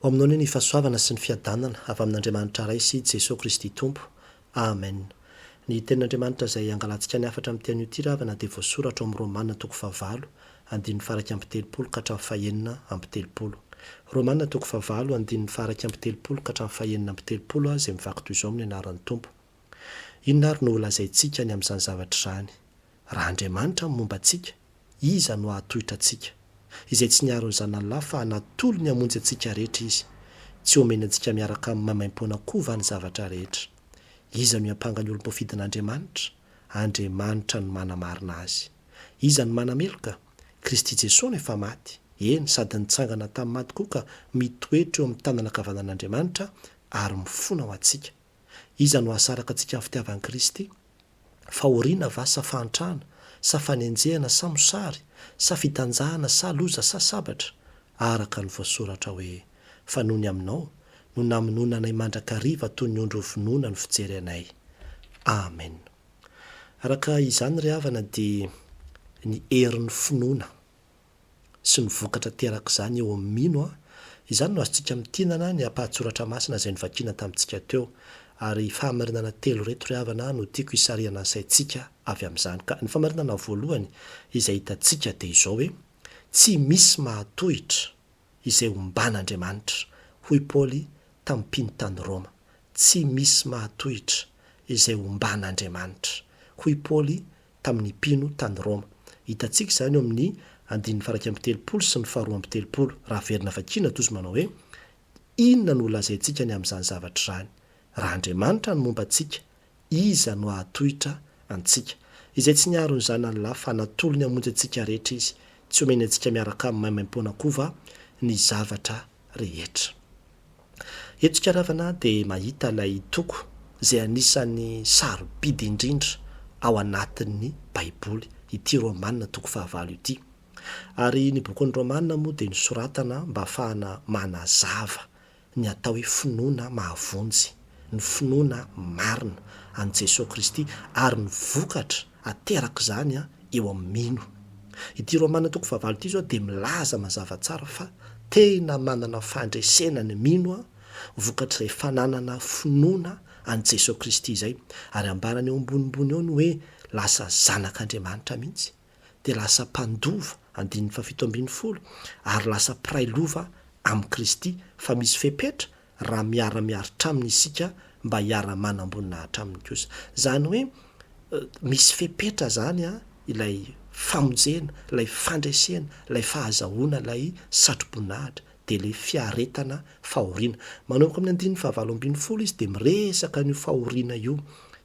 Ho aminao anie ny fahasoavana sy ny fiadanana avy amin'Andriamanitra Ray sy Jesoa Kristy Tompo. Amen. Ny Tenin'Andriamanitra izay hangalantsika ny hafatra amin'ity anio ity ravana dia voasoratra ao amin'ny Romana toko fahavalo, andininy faharaika amby telopolo ka hatramin'ny fahenina amby telopolo. Romana toko fahavalo, andininy faharaika amby telopolo ka hatramin'ny fahenina amby telopolo aho izay mivaky toy izao amin'ny anaran'ny Tompo. Inona ary no holazaintsika ny amin'izany zavatra izany? Raha Andriamanitra no momba antsika, iza no hahatohitra antsika? Izay tsy niaro ny Zan'Allah fa natolony hamonjy antsika rehetra Izy, tsy homeny antsika miaraka amin'ny maimaim-poana koa va ny zavatra rehetra? Iza no hiampanga ny olom-pofidin'Andriamanitra? Andriamanitra no manamarina azy. Iza no manameloka? Kristy Jesoa no efa maty, eny, sady nitsangana tamin'ny maty koa ka mitoetra eo amin'ny tanana ankavanan'Andriamanitra ary mifona ho antsika. Iza no hahasaraka antsika amin'ny fitiavan'i Kristy? Fahoriana va sa fahantrana sa fanenjehana sa mosary sa fitanjahana sa loza sa sabatra? Araka ny voasoratra hoe, Fa nony aminao no namonoana anay mandrakariva toy ny ondry hovonoina no fijery anay. Amen. Araka izany ry havana dia ny herin'ny finoana. sy ny vokatra terak'izany eo amin'ny mino an, izany no azontsika mitinana ny ampahan-tsoratra masina izay novakiana tamintsika teo. Ary fahamarinana telo ireto ry havana no tiako hisarihana ny saintsika avy amin'izany ka. Ny fahamarinana voalohany izay hitantsika dia izao hoe, Tsy misy mahatohitra izay omban'Andriamanitra, hoy Paoly tamin'ny mpino tany Roma. Tsy misy mahatohitra izay omban'Andriamanitra, hoy Paoly tamin'ny mpino tany Roma. Hitantsika izany eo amin'ny andininy faha iraika amby telopolo sy ny faharoa amby telopolo, raha averina vakiana toa izy manao hoe, Inona no holazaintsika ny amin'izany zavatra izany? Raha Andriamanitra no momba antsika, iza no hahatohitra antsika? Izay tsy niaro ny Zananilahy, fa natolony hamonjy antsika rehetra Izy, tsy homeny antsika miaraka aminy maimaim-poana koa va ny zavatra rehetra. Eto Tsikaràvana dia mahita ilay toko izay anisan'ny sarobidy indrindra ao anatin'ny Baiboly, ity Rômana toko fahavalo ity. Ary ny bokin'ny Rômana moa dia nosoratana mba hahafahana manazava ny atao hoe finoana mahavonjy, ny finoana marina an'i Jesoa Kristy ary ny vokatra aterako izany eo amin'ny mino. Ity Romana toko fahavalo ity izao dia milaza mazava tsara fa tena manana fandresena ny mino vokatr'izay fananana finoana an'i Jesoa Kristy izay, ary ambarany eo ambonimbony eo ny hoe lasa zanak'Andriamanitra mihitsy, dia lasa mpandova, andininy fahafito ambin'ny folo, ary lasa mpiray lova amin'i Kristy, fa misy fepetra raha miara-miaritra aminy isika mba hiara-manam-boninahitra aminy kosa. Izany hoe misy fepetra izany an, ilay famonjena, ilay fandresena, ilay fahazahoana ilay satro-boninahitra, dia ilay fiaretana fahoriana. Manomboka amin'ny andininy fahavalo ambin'ny folo izy dia miresaka an'io fahoriana io,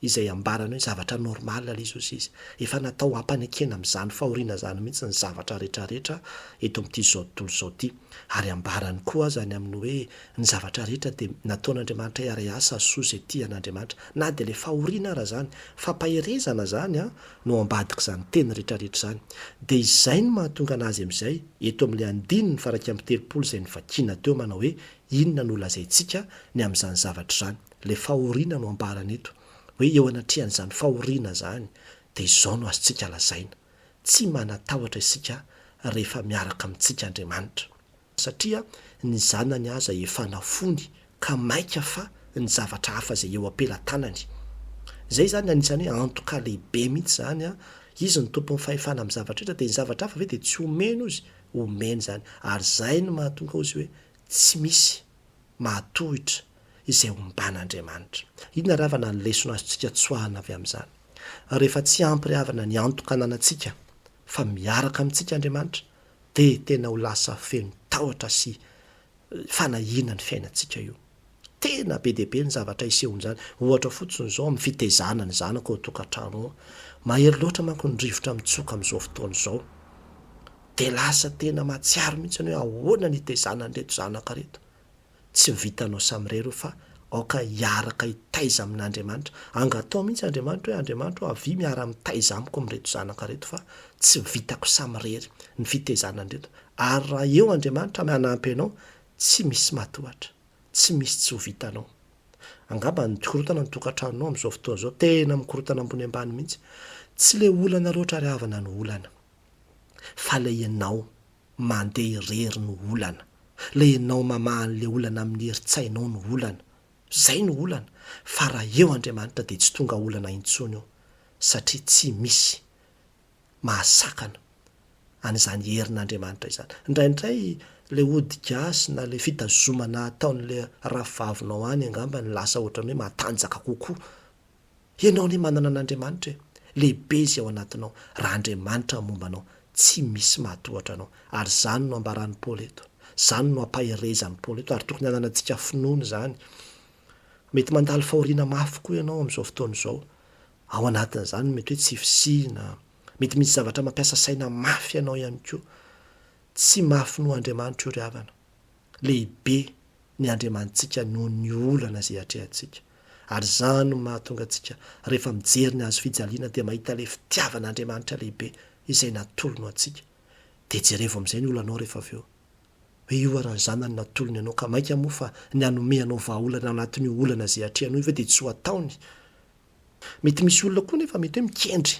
izay ambarany hoe zavatra normal ilay izy, hozy izy. Efa natao hampanekena amin'izany fahoriana izany mihitsy ny zavatra rehetra rehetra eto amin'ity izao tontolo izao ity. Ary ambarany koa aza ny amin'ny hoe ny zavatra rehetra dia nataon'Andriamanitra hiara-hiasa sy soa izay tia an'Andriamanitra. Na dia ilay fahoriana ara izany, fampaherezana izany an, no ambadik'izany teny rehetra rehetra izany. Dia izay no mahatonga an'azy amin'izay, eto amin'ilay andininy faraika amby telopolo izay novakiana teo manao hoe inona no holazaintsika ny amin'izany zavatra izany, ilay fahoriana no ambarany eto, hoe eo anatrehan'izany fahoriana izany dia izao no azontsika lazaina. Tsy manatahotra isika rehefa miaraka amintsika Andriamanitra, satria ny Zanany aza efa nafony ka maika fa ny zavatra hafa izay eo am-pelatanany. Izay izany anisan'ny hoe antoka lehibe mihitsy izany an! Izy no Tompon'ny fahefana amin'ny zavatra rehetra dia ny zavatra hafa ve dia tsy omeny ozy? Omeny izany ary izay no mahatonga ozy hoe tsy misy. mahatohitra izay omban'Andriamanitra. Inona ravana ny lesona azontsika tsoahina avy amin'izany? Rehefa tsy ampy ry havana ny antoka ananantsika fa miaraka amintsika Andriamanitra, dia tena ho lasa feno tahotra sy fanahiana ny fiainantsika io. Tena be dia be ny zavatra isehoan'izany. Ohatra fotsiny izao amin'ny fitaizana ny zanaka ao an-tokantrano ao. Mahery loatra manko ny rivotra mitsoka amin'izao fotoana izao. dia lasa tena mahatsiaro mihitsy ianao hoe ahoana ny hitaizana an'ireto zanaka ireto. Tsy vitanao samirery io fa aoka hiaraka hitaiza amin'Andriamanitra. Angataho mihitsy Andriamanitra hoe, Andriamanitra ô, avia miara-mitaiza amiko amin'ireto zanaka ireto fa tsy vitako samirery ny fitaizana an'ireto. Ary raha eo Andriamanitra amin'ny hanampy anao, tsy misy matohatra, tsy misy tsy ho vitanao. Angamba ny korontana ny tokantranonao amin'izao fotoana izao, tena mikorontana ambony ambany mihitsy. Tsy ilay olana loatra ry havana no olana. fa ilay ianao mandeha irery no olana, ilay ianao mamaha an'ilay olana amin'ny herin-tsainao no olana, izay no olana, fa raha eo Andriamanitra dia tsy tonga olana intsony io satria tsy misy mahasakana an'izany herin'Andriamanitra izany. Indraindray ilay ody gasy na ilay fitazomana ataon'ilay rafivavinao any angamba no lasa ohatran'ny hoe matanjaka kokoa Ianao anie manana an'Andriamanitra e! Lehibe izay ao anatinao raha Andriamanitra no momba anao, tsy misy mahatohatra anao. Ary izany no ambaran'i Paoly eto, izany no ampaherezan'i Paoly eto ary tokony hananantsika finoana izany. Mety mandalo fahoriana mafy koa ianao amin'izao fotoana izao. Ao anatin'izany mety hoe tsy fisiana, mety misy zavatra mampiasa saina mafy anao ihany koa. Tsy mahafinoa Andriamanitra io ry havana. Lehibe ny Andriamanitsika noho ny olana izay atrehantsika. Ary izany no mahatonga antsika rehefa mijery ny hazo fijaliana dia mahita ilay fitiavan'Andriamanitra lehibe izay natolony ho antsika. Dia jerevo amin'izay ny olanao rehefa avy eo. Hoe io ary ny Zanany natolony anao ka mainka moa fa ny hanome anao vahaolana anatin'io olana izay atrehanao io ve dia tsy ho ataony? Mety misy olona koa nefa mety hoe mikendry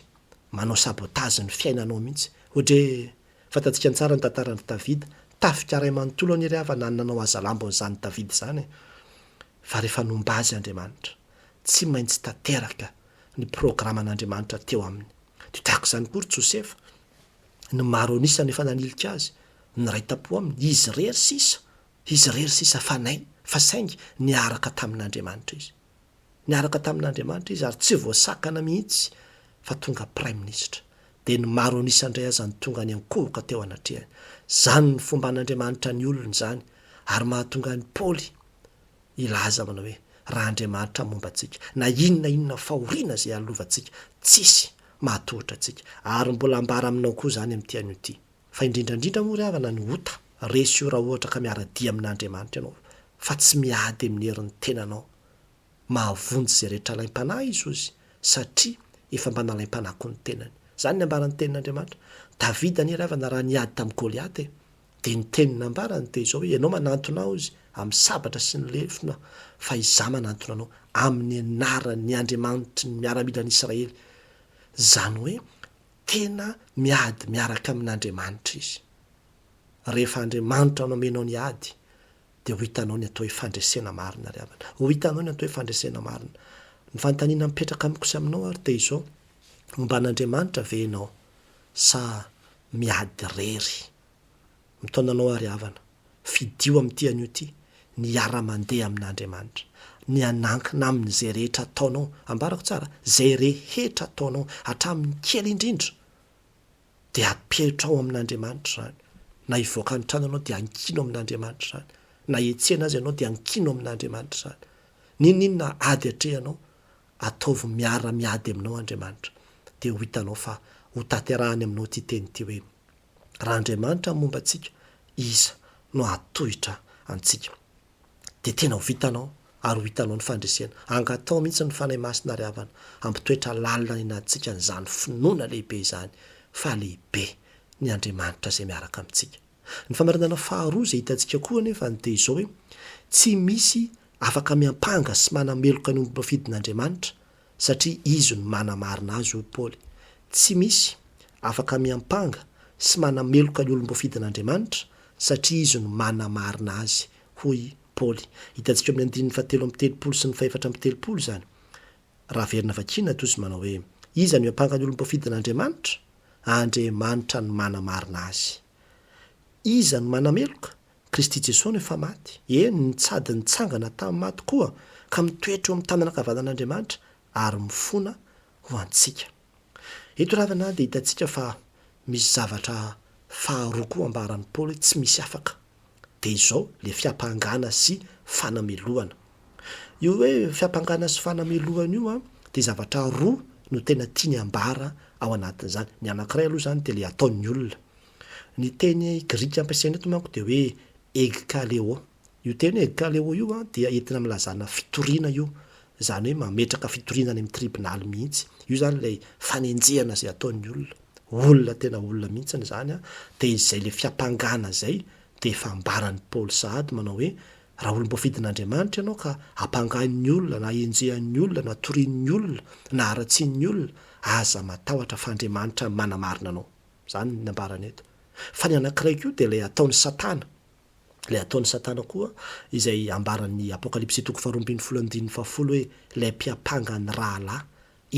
manao sabotage ny fiainanao mihitsy. Ohatra hoe Fantantsika ny tsara ny tantara andry Davida, tafika ray manontolo anie ry havana ny nanao hazalambony izany Davida izany e! Fa rehefa nomba azy Andriamanitra, tsy maintsy tanteraka ny programan'Andriamanitra teo aminy. Dia tahaka izany koa ry Josefa, ny maro an'isa no efa nanilika azy, niray tampo aminy, izy irery sisa, izy irery sisa fanahy, fa saingy niaraka tamin'Andriamanitra izy. Niaraka tamin'Andriamanitra izy ary tsy voasakana mihitsy fa tonga Praiminisitra. Dia ny maro an'isa indray aza no tonga niankohoka teo anatrehany. Izany ny fomban'Andriamanitra ny olony izany ary mahatonga an'i Paoly hilaza manao hoe, Raha Andriamanitra momba antsika, na inona inona fahoriana izay halovantsika, tsisy mahatohitra antsika. Ary mbola ambara aminao koa izany amin'ity anio ity. Fa indrindra indrindra moa ry havana ny ota resy io raha ohatra ka miara-dia amin'Andriamanitra ianao fa tsy miady amin'ny herin'ny tenanao. Mahavonjy izay rehetra alaim-panahy i Jesosy satria efa mba nalaim-panahy koa ny tenany. Izany ny ambaran'ny tenin'Andriamanitra. Davida anie ry havana raha niady tamin'i Goliata e, dia ny teniny nambarany dia izao hoe, ianao manantona aho izy amin'ny sabatra sy ny lefona fa izaho manantona anao amin'ny anaran'ny Andriamanitry ny miaramilan'Israely. Izany hoe Tena miady miaraka amin'Andriamanitra izy. Rehefa Andriamanitra no amenao ny ady, dia ho hitanao ny atao hoe fandresena marina ry havana. Ho hitanao ny atao hoe fandresena marina. Ny fanontaniana mipetraka amiko sy aminao ary dia izao, homba an'Andriamanitra ve ianao sa miady irery? Mitaona anao aho ry havana, fidio amin'ity anio ity ny hiara-mandeha amin'Andriamanitra, ny hanankina Aminy izay rehetra ataonao, ambarako tsara, izay rehetra ataonao, hatramin'ny kely indrindra, dia apetrao amin'Andriamanitra izany, na hivoaka ny trano ianao dia ankino amin'Andriamanitra izany, na hiantsena aza ianao dia ankino amin'Andriamanitra izany, n'inon'inona ady atrehanao, ataovy miara-miady aminao Andriamanitra, dia ho hitanao fa hotanterahany aminao ity teny ity hoe. Raha Andriamanitra no momba antsika, iza no hahatohitra antsika? Dia tena ho vitanao ary ho hitanao ny fandresena. Angataho mihitsy ny Fanahy Masina ry havana, hampitoetra lalina any anatintsika an'izany finoana lehibe izany fa lehibe ny Andriamanitra izay miaraka amintsika. Ny famarinana faharoa izay hitantsika koa anefa dia izao hoe, tsy misy afaka miampanga sy manameloka ny ombim-pafidin'Andriamanitra satria izy no manamarina azy, hoy Paoly. Tsy misy afaka miampanga sy manameloka ny olom-boafidin'Andriamanitra, satria izy no manamarina azy, hoy Paoly. Hitantsika ao amin'ny andininy fahatelo amby telopolo sy ny fahefatra amby telopolo izany, raha averina vakiana toy izay manao hoe, Iza no hiampanga ny olom-boafidin'Andriamanitra? Andriamanitra no manamarina azy. Iza no manameloka? Kristy Jesoa no efa maty, eny, nitsady nitsangana tamin'ny maty koa, ka mitoetra eo amin'ny tanana ankavanan'Andriamanitra ary mifona ho antsika. Eto ravana dia hitantsika fa misy zavatra faharoa koa ambaran'i Paoly hoe tsy misy afaka. Dia izao ilay fiampangana sy fanamelohana. Io hoe fiampangana sy fanamelohana io dia zavatra roa no tena tiany ambara ao anatin'izany. Ny anankiray aloha izany dia ilay ataon'ny olona. Ny teny grika ampiasaina eto manko dia hoe eg ka le'o. Io teny hoe eg ka le'o io dia entina milazana fitoriana io, izany hoe mametraka fitoriana any amin'ny tribonaly mihitsy. Io izany ilay fanenjehana izay ataon'ny olona. Olona tena olona mihitsy izany an, dia izay ilay fiampangana izay dia efa ambaran'i Paoly sahady manao hoe raha olom-boafidin'Andriamanitra ianao ka ampangain'ny olona na enjehan'ny olona na torian'ny olona na haratsian'ny olona, aza matahotra fa Andriamanitra manamarina anao. Izany ny ambarany eto. Fa ny anankiray koa dia ilay ataon'i Satana. Ilay ataon'i Satana koa, izay ambaran'ny Apokalypsy toko faharoa ambin'ny folo andininy fahafolo hoe ilay mpiampanga ny rahalahy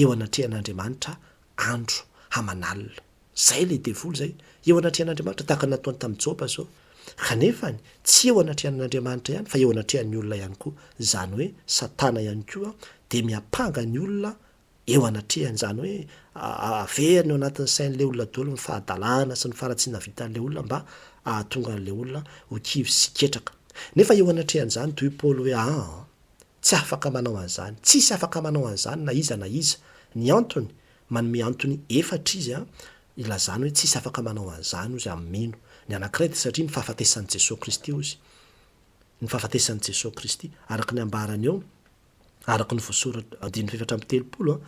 eo anatrehan'Andriamanitra andro aman'alina. Izay ilay devoly izay, eo anatrehan'Andriamanitra, tahaka ny nataony tamin'i Joba izao. Kanefany, tsy eo anatrehan'Andriamanitra ihany, fa eo anatrehan'ny olona ihany koa. Izany hoe Satana ihany koa dia miampanga ny olona Eo anatrehany izany hoe averina eo anatin'ny sain'ilay olona daholo ny fahadalana sy ny faharatsiana vitan'ilay olona mba hahatonga an'ilay olona ho kivy sy ketraka. Nefa eo anatrehan'izany, toy i Paoly hoe aa, tsy afaka manao an'izany. Tsisy afaka manao an'izany na iza na iza. Ny antony, manome antony efatra izy hilazany hoe tsisy afaka manao an'izany, hozy, amin'ny mino. Ny anankiray dia satria ny fahafatesan'i Jesoa Kristy, hozy. Ny fahafatesan'i Jesoa Kristy. Araka ny ambarany eo, araka ny voasoratra, andininy fahefatra amby telopolo,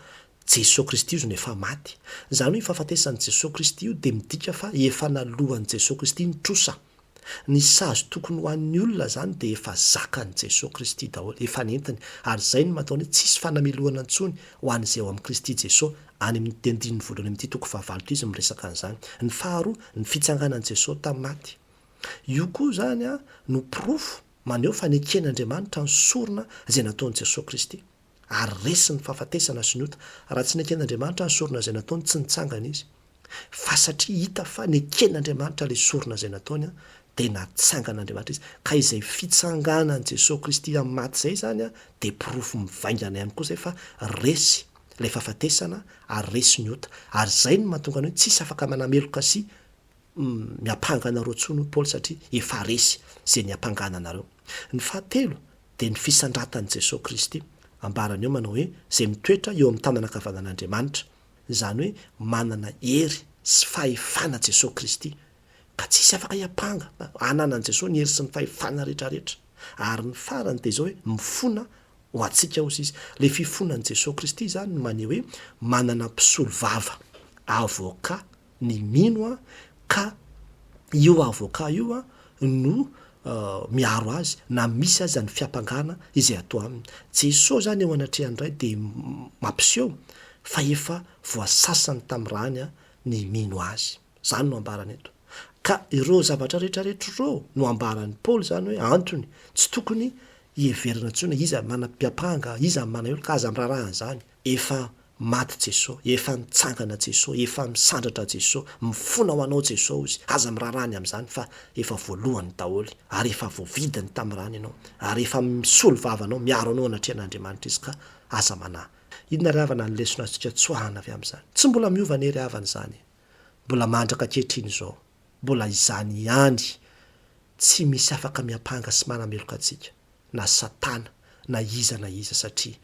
Jesoa Kristy io zony efa maty. Izany hoe io fahafatesan'i Jesoa Kristy io dia midika fa efa naloan'i Jesoa Kristy ny trosa. Ny sazy tokony ho an'ny olona izany dia efa zakan'i Jesoa Kristy daholo, efa nentiny, ary izay no mahatonga ny hoe tsisy fanamelohana intsony ho an'izay ao amin'i Kristy Jesoa, any amin'ity andininy voalohany amin'ity toko fahavalo ity izy miresaka an'izany. Ny faharoa, ny fitsanganan'i Jesoa tamin'ny maty. Io koa izany no porofo maneho fa neken'Andriamanitra ny sorona izay nataon'i Jesosy Kristy, ary resy ny fahafatesana sy ny ota, raha tsy neken'Andriamanitra ny sorona izay nataony tsy nitsangana Izy, fa satria hita fa neken'Andriamanitra ilay sorona izay nataony dia natsangan'Andriamanitra Izy, ka izay fitsanganan'i Jesosy Kristy amin'ny maty izay izany dia porofo mivaingana ihany koa izay fa resy ilay fahafatesana ary resy ny ota, ary izay no mahatonga ny hoe tsisy afaka manameloka sy miampanga anareo tsony hoy Paoly satria efa resy ze niampangana anareo. Ny fahatelo dia ny fisandratan'i Jesoa Kristy. Ambarany eo manao hoe ze mitoetra eo amin'ny tanana ankavanan'Andriamanitra. Izany hoe manana hery sy fahefana Jesoa Kristy ka tsisy afaka hiampanga ananan'i Jesoa ny hery sy ny fahefana rehetra rehetra. Ary ny farany dia izao hoe mifona ho antsika hozy Izy. Le fifonan'i Jesoa Kristy izany no maneho hoe manana mpisolo vava, avocat, ny mino an, ka io avocat io an no miaro azy na misy aza ny fiampangana izay atao aminy. Jesoa zany eo anatrehan'ny Ray dia mampiseho fa efa voasasany tamin'ny rany an ny mino Azy. Zany no ambarany eto. Ka ireo zavatra rehetra rehetra ireo no ambaran'i Paoly zany hoe antony tsy tokony hiheverana intsony hoe iza no manam-piampanga, iza no manao io, ka aza miraharaha an'izany. Efa maty Jeso, efa nitsangana Jeso, efa misandratra Jeso, mifona ho Anao Jeso ozy, aza miraharaha ny amin'izany fa efa voalohany daholo, ary efa voavidiny tamin'ny rany Ianao, ary efa misolo vava Anao, miaro Anao anatrehan'Andriamanitra Izy ka aza manahy. Inona ry havana ny lesona azontsika tsoahana avy amin'izany? Tsy mbola miova anie ry havana izany e! Mbola mandraka ankehitriny izao. Mbola izany ihany, tsy misy afaka miampanga sy manameloka antsika, na Satana, na iza na iza, satria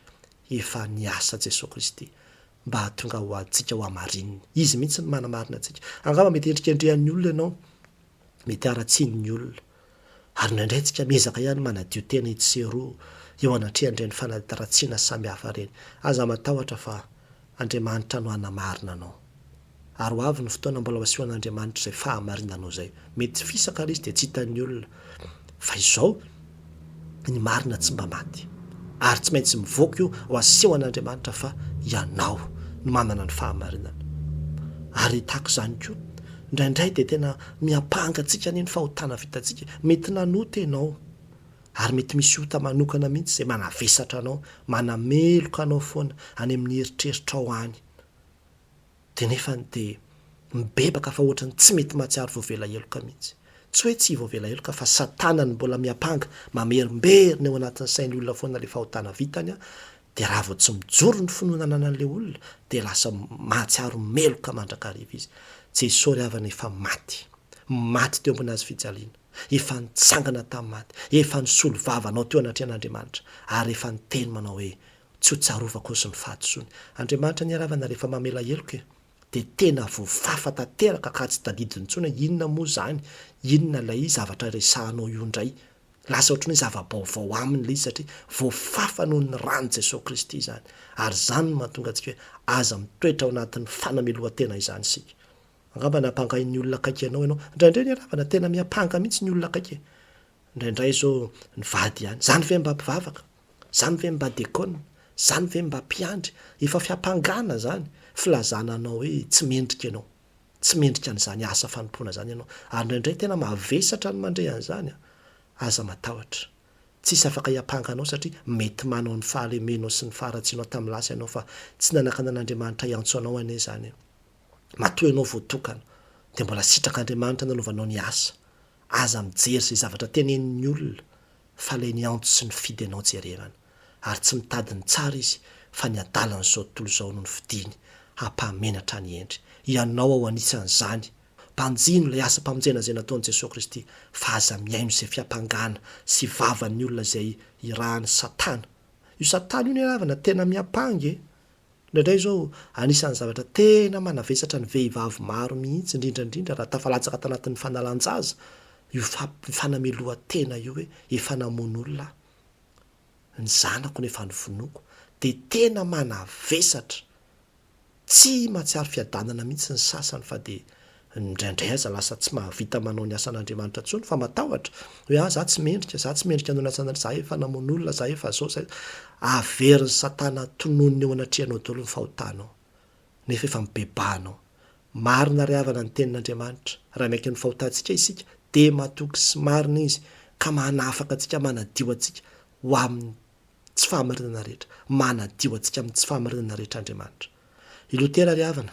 efa niasa Jesoa Kristy mba hahatonga ho antsika ho hamarininy. Izy mihitsy no manamarina antsika. Angamba mety hendrikendrehan'ny olona ianao, mety haratsian'ny olona, Ary indraindray isika miezaka ihany manadio tena etsy sy eroa eo anatrehan'ireny fanatitaratsiana samihafa ireny. Aza matahotra fa Andriamanitra no hanamarina anao. Ary ho avy ny fotoana mbola ho asehoan'Andriamanitra izay fahamarinanao izay. Mety fisaka ary izy dia tsy hitan'ny olona. Fa izao. ny marina tsy mba maty, ary tsy maintsy mivoaka io ho aseho an'Andriamanitra fa ianao no manana ny fahamarinana. Ary tahaka izany koa, indraindray dia tena miampanga antsika anie ny fahotana vitantsika, mety nanota ianao, ary mety misy ota manokana mihitsy izay manavesatra anao, manameloka anao foana any amin'ny eritreritrao any. Dia nefany dia mibebaka fa ohatran'ny tsy mety mahatsiaro voavela heloka mihitsy. Tsy hoe tsy voavela heloka fa satana no mbola miampanga, mamerimberina eo anatin'ny sain'ny olona foana ilay fahotana vitany an, dia raha vao tsy mijoro ny finoana ananan'ilay olona dia lasa mahatsiaro meloka mandrakariva izy. Jesoa ry havana efa maty. Maty teo ambony hazo fijaliana. Efa nitsangana tamin'ny maty. Efa nisolo vava anao teo anatrehan'Andriamanitra. Ary efa niteny manao hoe, tsy ho tsarovako ozy ny fahadisoany. Andriamanitra ny aravana rehefa mamela heloka e! dia tena voafafa tanteraka ka tsy tadidy intsony hoe inona moa izany, inona ilay zavatra resahanao io indray. Lasa ohatran'ny hoe zava-baovao aminy ilay izy satria voafafa noho ny ran'i Jesoa Kristy izany. Ary izany no mahatonga antsika hoe aza mitoetra ao anatin'ny fanamelohan-tena izany isika. Angamba nampangain'ny olona akaiky anao ianao. Indraindray ny aravana tena miampanga mihitsy ny olona akaiky e! Indraindray izao ny vady ihany. Izany ve mba mpivavaka? Zany ve mba dekona? Zany ve mba mpiandry? Efa fiampangana zany, filazana anao hoe tsy mendrika ianao. Tsy mendrika an'izany asa fanompoana zany ianao. Ary indraindray tena mavesatra ny mandre an'izany an! Aza matahotra. Tsisy afaka hiampanga anao satria mety manao ny fahalemenao sy ny faharatsianao tamin'ny lasa ianao fa tsy nanakana an'Andriamanitra hiantso anao anie izany. Matoa ianao voatokana dia mbola sitrak'Andriamanitra nanaovanao ny asa. Aza mijery izay zavatra tenenin'ny olona fa ilay ny antso sy ny fidy anao jerevana. Ary tsy mitady ny tsara izy fa ny adalan'izao tontolo izao no nofidiany hampahamenatra an'i Hendry. Ianao ao anisan'izany. Banjino ilay asam-pamonjena izay nataon'i Jesoa Kristy fa aza mihaino izay fiampangana sy vavan'ny olona izay irahan'i Satana. Io Satana io ny havana tena miampanga e! Indraindray izao, anisan'ny zavatra tena manavesatra ny vehivavy maro mihitsy, indrindra indrindra raha tafalatsaka tanatin'ny fanalan-jaza, io fanamelohan-tena io hoe efa namono olona aho, ny zanako no efa novonoiko, dia tena manavesatra, tsy mahatsiaro fiadanana mihitsy ny sasany fa dia Indraindray aza lasa tsy mahavita manao ny asan'Andriamanitra intsony fa matahotra hoe ah za tsy mendrika, za tsy mendrika hanao ny asan'Andriamanitra, za efa namono olona, za efa zao, za. Averin'i satana tononiny eo anatrehanao daholo ny fahotanao. Nefa efa mibebaha anao. Marina ry havana ny tenin'Andriamanitra, raha miaiky ny fahotantsika isika dia matoky sy marina izy ka manafaka antsika manadio antsika ho amin'ny tsy fahamarinana rehetra, manadio antsika amin'ny tsy fahamarinana rehetra Andriamanitra. I Lotera ry havana,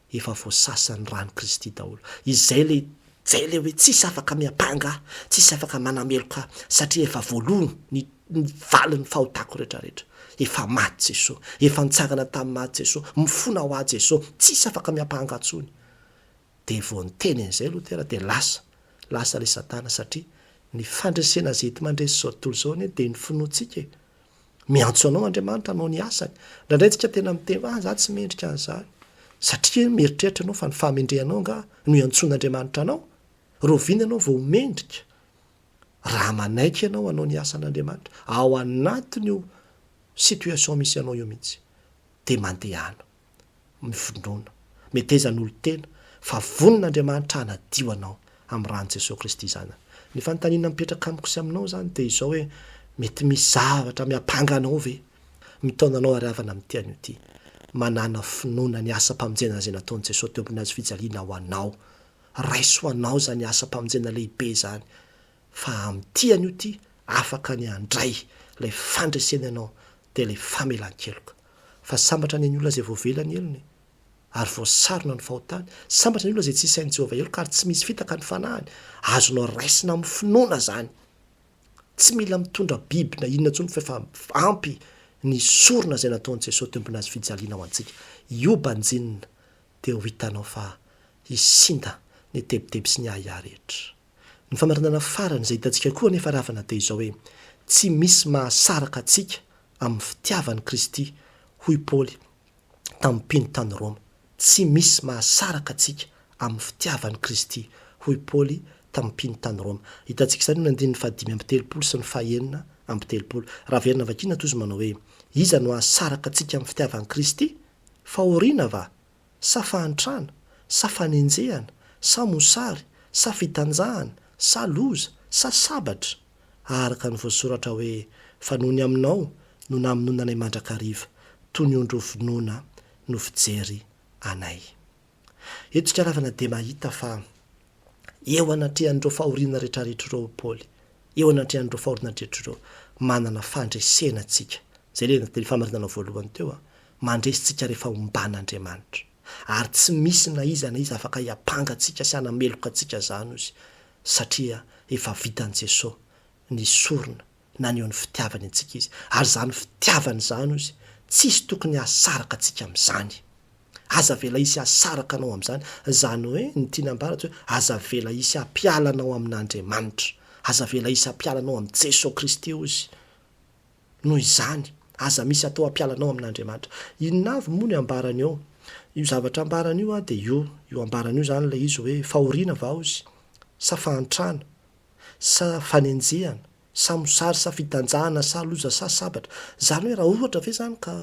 efa voasasan'ny ran'i Kristy daholo. Izay le zay le hoe tsisy afaka miampanga ahy, tsisy afaka manameloka ahy, satria efa voaloany ny ny valin'ny fahotako retraretra. Efa maty Jesoa, efa nitsangana tamin'ny maty Jesoa, mifona ho ahy Jesoa, tsisy afaka miampanga ahy tsony. Dia vao niteny an'izay Lotera dia lasa, lasa le Satana satria ny fandresena zay enti-mandresy zao tontolo zao anie dia ny finoantsika e. Miantso anao Andriamanitra hanao ny asany. Indraindray isika tena miteny hoe, ah, za tsy mendrika an'izany. Satria mieritreritra ianao fa ny fahamendrehanao angaha no iantsoan'Andriamanitra anao? Rahoviana ianao vao ho mendrika? Raha manaiky ianao hanao ny asan'Andriamanitra, ao anatin'io situation misy anao io mihitsy. Dia mandehana. mifinoana. Meteza ny olon-tena fa vonin' Andriamanitra hanadio anao amin'ny ran'i Jesoa Kristy Zanany. Ny fanontaniana mipetraka amiko sy aminao izany dia izao hoe, mety misy zavatra miampanga anao ve? Mitaona anao ary havana amin'ity anio ity. Manàna finoana ny asam-pamonjena izay nataon'i Jesoa teo ambony hazofijaliana ho anao. Raiso ho anao izany asam-pamonjena lehibe izany. fa amin'ny tia an'io ty afaka ny handray ilay fandresena ianao dia ilay famelan-keloka. Fa sambatra anie ny olona izay voavela ny helony ary voasarona ny fahotany. Sambatra ny olona izay tsy isain'i Jehovah heloka ary tsy misy fitaka ny fanahiny. Azonao raisina amin'ny finoana izany. Tsy mila mitondra biby na inona intsony fa efa ampy ny sorona izay nataon'i Jesosy teo ambony hazofijaliana ho antsika. Io banjinina dia ho hitanao fa hisinda ny tebiteby sy ny ahiahy rehetra. Ny famarinana farany izay hitantsika koa anefa ry havana dia izao hoe, tsy misy mahasaraka antsika amin'ny fitiavan'i Kristy, hoy Paoly tamin'ny mpino tany Roma. Tsy misy mahasaraka antsika amin'ny fitiavan'i Kristy, hoy Paoly tamin'ny mpino tany Roma. Hitantsika izany eo amin'ny andininy fahadimy amby telopolo sy ny fahenina amby telopolo. Raha averina vakiana toa izy manao hoe, Iza no hahasaraka antsika amin'ny fitiavan'i Kristy? Fahoriana va? sa fahantrana, sa fanenjehana, sa mosary, sa fitanjahana, sa loza, sa sabatra? Araka ny voasoratra hoe, Fa nony aminao no namonoananay mandrakariva, toy ny ondry hovonoina no fijery anay. Eto ikaravana dia mahita fa eo anatrehan'ireo fahoriana rehetrarehetra ireo i Paoly, eo anatrehan'ireo fahoriana rehetrarehetra ireo, manana fandresena tsika. Izay ilay teny famarinana voalohany teo. Mandresy tsika rehefa omban Andriamanitra. Ary tsy misy na iza na iza afaka hiampanga antsika sy hanameloka antsika zany ozy satria efa vitan Jeso ny sorona naneho ny fitiavany antsika izy ary zany fitiavany zany ozy tsisy tokony hahasaraka antsika amzany. Aza avela hisy hahasaraka anao amzany zany oe ny tiany ambara tsy oe aza avela hisy hampiala anao amin Andriamanitra. Aza avela hisy hampiala anao am Jeso Kristy ozy. Noho izany, aza misy atao hampiala anao amin'Andriamanitra. Inona avy moa ny ambarany eo? Io zavatra ambarany io dia io, io ambarany io izany ilay izy hoe fahoriana va hozy, sa fahantrana, sa fanenjehana, sa mosary, sa fitanjahana, sa loza, sa sabatra. Izany hoe raha ohatra ve izany ka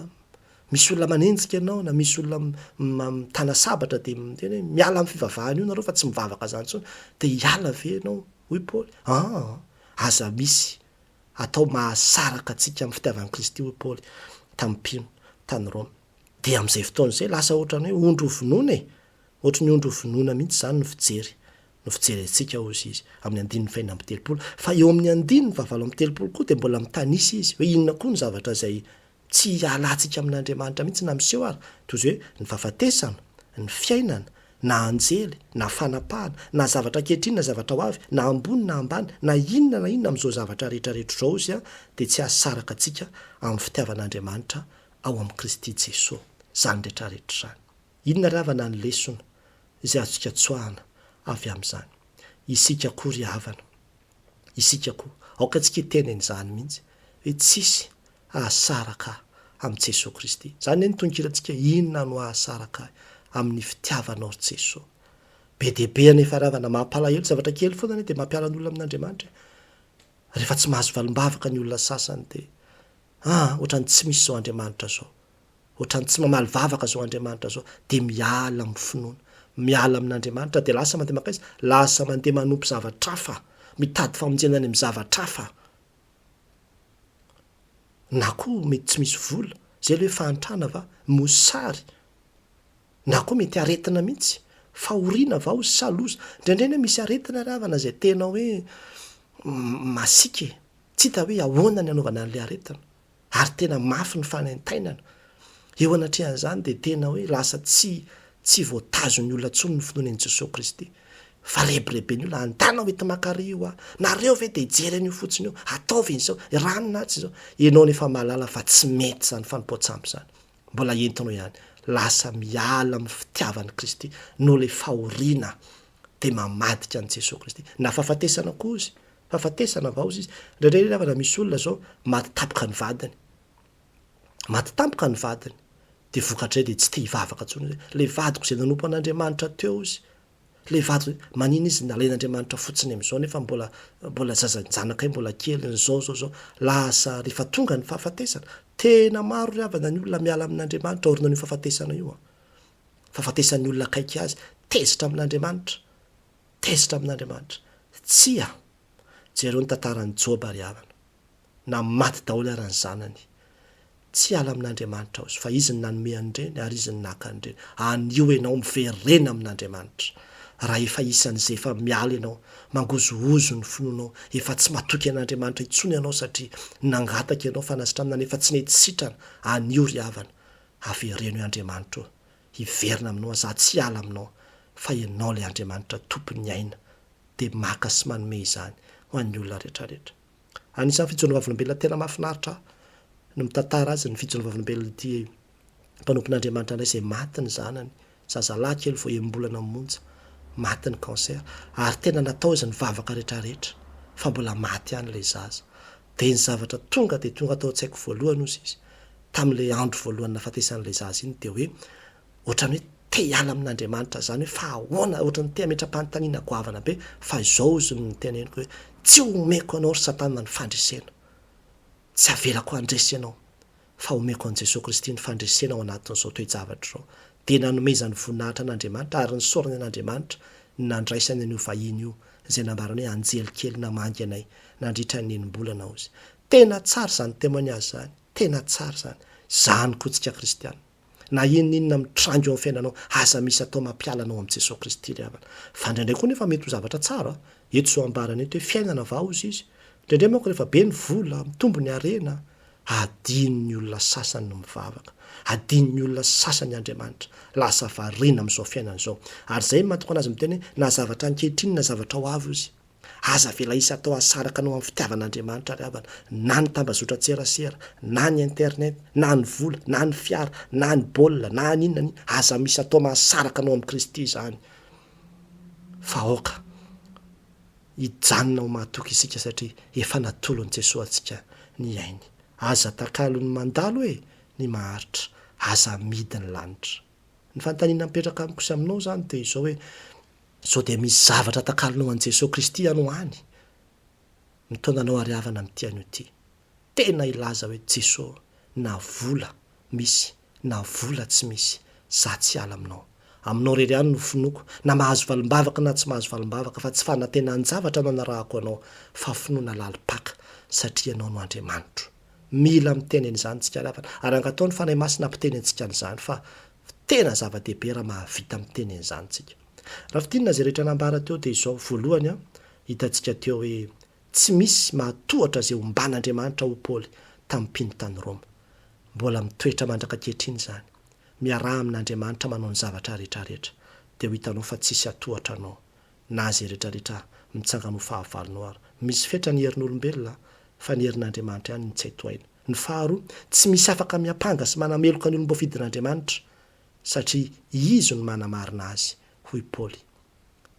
misy olona manenjika anao na misy olona mitana sabatra dia miteny hoe miala amin'ny fivavahana io nareo fa tsy mivavaka izany intsony dia hiala ve ianao? hoy Paoly. Aa! aza misy atao mahasaraka antsika amin'ny fitiavan'i Kristy, hoy Paoly tamin'ny mpino tany Roma. Dia amin'izay fotoana izay, lasa hoatran'ny hoe ondry hovonoina e! Hoatry ny ondry hovonoina mihitsy izany no fijery, no fijerentsika, hoy izy amin'ny andininy fahenina amby telopolo. Fa eo amin'ny andininy fahavalo amby telopolo koa dia mbola mitanisa izy, hoe inona koa ny zavatra izay Tsy hialantsika amin'Andriamanitra mihitsy na miseho ary, toy izay hoe ny fahafatesana, ny fiainana, na anjely, na fanapahana, na zavatra ankehitriny na zavatra ho avy, na ambony na ambany, na inona na inona amin'izao zavatra rehetra rehetra izao izya dia tsy hahasaraka antsika amin'ny fitiavan'Andriamanitra ao amin'i Kristy Jesoa izany rehetra rehetra izany. Inona ry havana ny lesona izay azontsika tsoahana avy amin'izany? Isika koa ry havana, isika koa, aoka antsika hiteny an'izany mihitsy hoe tsisy Hahasaraka ahy amin'i Jesoa Kristy. Izany anie ny tononkirantsika, Inona no hahasaraka ahy amin'ny fitiavanao ry Jesoa. Be dia be anefa ry havana, mampalahelo, zavatra kely foana anie dia mampiala ny olona amin'Andriamanitra e! Rehefa tsy mahazo valim-bavaka ny olona sasany dia, aa, ohatran'ny tsy misy izao Andriamanitra izao, ohatran'ny tsy mamaly vavaka izao Andriamanitra izao, dia miala amin'ny finoana, miala amin'Andriamanitra dia lasa mandeha mankaiza? Lasa mandeha manompo zavatra hafa, mitady famonjena any amin'ny zavatra hafa. Na koa mety tsy misy vola, izay ilay hoe fahantrana va? Mosary, na koa mety aretina mihitsy, fahoriana va hozy sa loza? Indraindray anie misy aretina ry havana izay tena hoe masiaka e! Tsy hita hoe ahoana ny hanaovana an'ilay aretina. ary tena mafy ny fanaintainana. Eo anatrehan'izany dia tena hoe lasa tsy tsy voatazon'ny olona intsony ny finoana an'i Jesoa Kristy. Fa rebirebi ny olona, andanao ety Makary io a! Nareo ve dia hijery an'io fotsiny io? Ataovy izao, eranina atsy izao. Ianao anie efa mahalala fa tsy mety izany fanompoan-tsampy izany. Mbola entinao ihany. Lasa miala amin'ny fitiavan'i Kristy noho ilay fahoriana dia mamadika an'i Jesoa Kristy. Na fahafatesana koa izy Fahafatesana vaoza izy. Indraindray ry havana misy olona zao maty tampoka ny vadiny. Maty tampoka ny vadiny. Dia vokatrizay dia tsy te hivavaka intsony izy hoe, ilay vadiko izay nanompo an'Andriamanitra teo izy, ilay vadiko izay, manina izy nalain'Andriamanitra fotsiny amin'izao nefa mbola, mbola zaza, ny zanakay mbola kely, ny zao, zao, zao. Lasa rehefa tonga ny fahafatesana. Tena maro ry havana ny olona miala amin'Andriamanitra aoriana an'io fahafatesana io an. Fahafatesan'ny olona akaiky azy. Tezitra amin'Andriamanitra. Tezitra amin'Andriamanitra. Tsia. Jereo ny tantaran'i Joba ry havana. Na maty daholo ara ny zanany. Tsy hiala amin'Andriamanitra aho izy, fa izy no nanome an'ireny ary izy no naka an'ireny. Anio ianao miverena amin'Andriamanitra. Raha efa isan'izay efa miala ianao, mangozohozo ny finoanao, efa tsy matoky an'Andriamanitra intsony ianao satria nangataka ianao fanasitranana nefa tsy nety sitrana, anio ry havana, avereno i Andriamanitra eo. hiverina aminao aho za tsy hiala aminao fa ianao ilay Andriamanitra tompon'ny aina dia maka sy manome izany ho an'ny olona retraretra anisan'ny fijono vavolombelona tena mahafinaritra ahy no mitantara azy ny fijono vavolombelona ity mpanompon'Andriamanitra indray izay maty ny zanany zazalahy kely vao enim-bolana monja maty ny cancer ary tena natao izy ny vavaka retraretra fa mbola maty ihany ilay zaza Dia ny zavatra tonga dia tonga tao an-tsaiko voalohany hozy izy tamin'ilay andro voalohany nahafatesan'ilay zaza iny dia hoe ohatran'ny hoe te hiala amin'Andriamanitra zany hoe fa ahoana ohatran'ny te hametra-panontaniana goavana be fa izao hozy no niteneniko hoe tsy omeko anao ry satana ny fandresena tsy avelako handresy anao fa homeko an'i Jesoa Kristy ny fandresena ao anatin'izao toe-javatra izao. Dia nanomezany voninahitra an'Andriamanitra ary nisaorany an'Andriamanitra ny nandraisany an'io vahiny io, izay nambarany hoe anjely kely namangy anay nandritra ny enim-bolana, hozy. Tena tsara izany témoignage izany! Tena tsara izany! Izany koa tsika kristiana! na inona inona mitranga eo amin'ny fiainanao, aza misy atao mampiala anao amin'i Jesoa Kristy ry havana. Fa indraindray koa nefa mety ho zavatra tsara, eto izao ambarany eto hoe fiainana va hozy izy? Indraindray manko rehefa be ny vola, mitombo ny harena, adinon'ny olona sasany ny mivavaka, adinon'ny olona sasany Andriamanitra, lasa variana amin'izao fiainana izao. Ary izay mahatokana azy miteny hoe na zavatra ankehitriny na zavatra ho avy hozy. Aza avela hisy atao hasaraka anao amin'ny fitiavan'Andriamanitra ry havana, na ny tambazotran-tserasera, na ny internet, na ny vola, na ny fiara, na ny baolina, na ny inona na inona. Aza misy atao mahasaraka anao amin'i Kristy izany, fa aoka hijanona ho mahatoky isika satria efa natolon'i Jesoa antsika ny ainy. Aza takalon'ny mandalo e! ny maharitra, aza amidy ny lanitra. Ny fanontaniana mipetraka amiko sy aminao izany dia izao hoe, Sao dia misy zavatra takalonao an'i Jesoa Kristy ianao any? Mitaona anao ary havana amin'ity anio ity. Tena hilaza hoe Jesoa na vola misy na vola tsy misy, za tsy hiala aminao. Aminao irery ihany no finoako, na mahazo valimbavaka na tsy mahazo valimbavaka, fa tsy fanantenan-javatra no anarahako anao, fa finoana lalim-paka, satria ianao no Andriamanitro. Mila miteny an'izany isika ry havana, ary angataho ny Fanahy Masina hampiteny antsika an'izany, fa Fa tena zava-dehibe raha mahavita miteny an'izany tsika. Raha fintinina izay rehetra nambara teo dia izao, voalohany an, hitantsika teo hoe tsy misy mahatohatra izay omban'Andriamanitra ho Paoly tamin'ny mpino tany Roma. Mbola mitoetra mandraka ankehitriny izany. Miaraha amin'Andriamanitra manao ny zavatra rehetra rehetra. Dia ho hitanao fa tsisy hatohatra anao na izay rehetra rehetra mitsangana ho fahavalonao ary. Misy fetra ny herin'olombelona an, fa ny herin'Andriamanitra ihany no tsy hay tohaina. Ny faharoa, tsy misy afaka miampanga sy manameloka ny olom-boafidin'Andriamanitra, satria Izy no manamarina azy, hoy Paoly.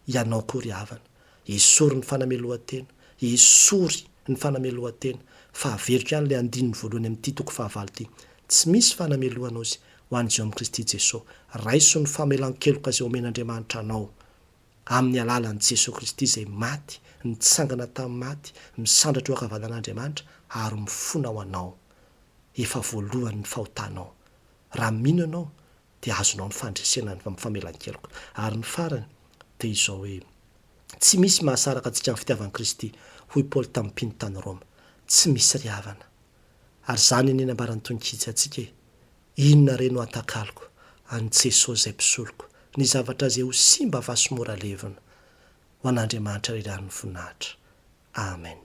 Ianao koa ry havana, esory ny fanamelohan-tena, esory ny fanamelohan-tena, fa averiko ihany ilay andininy voalohany amin'ity toko fahavalo ity, Tsy misy fanamelohan-ozy ho an'izay ao amin'i Kristy Jesoa. Raiso ny famelan-keloka izay omen'Andriamanitra anao, Amin'ny alalan'i Jesoa Kristy izay maty, nitsangana tamin'ny maty, misandratra eo ankavanan'Andriamanitra ary mifona ho anao. Efa voaloany ny fahotanao. Raha mino ianao dia azonao ny fandresena ny famelan-keloka. Ary ny farany dia izao hoe, Tsy misy mahasaraka antsika ny fitiavan'i Kristy, hoy Paoly tamin'ny mpino tany Roma. Tsy misy ry havana. Ary izany anie nambaran'ny tonon-kijy antsika e. Inona re no hatakaloko an'i Jesoa zay mpisoloko ny zavatra ze ho simba va sy mora levona. Ho an'Andriamanitra ry rano ny voninahitra. Amen.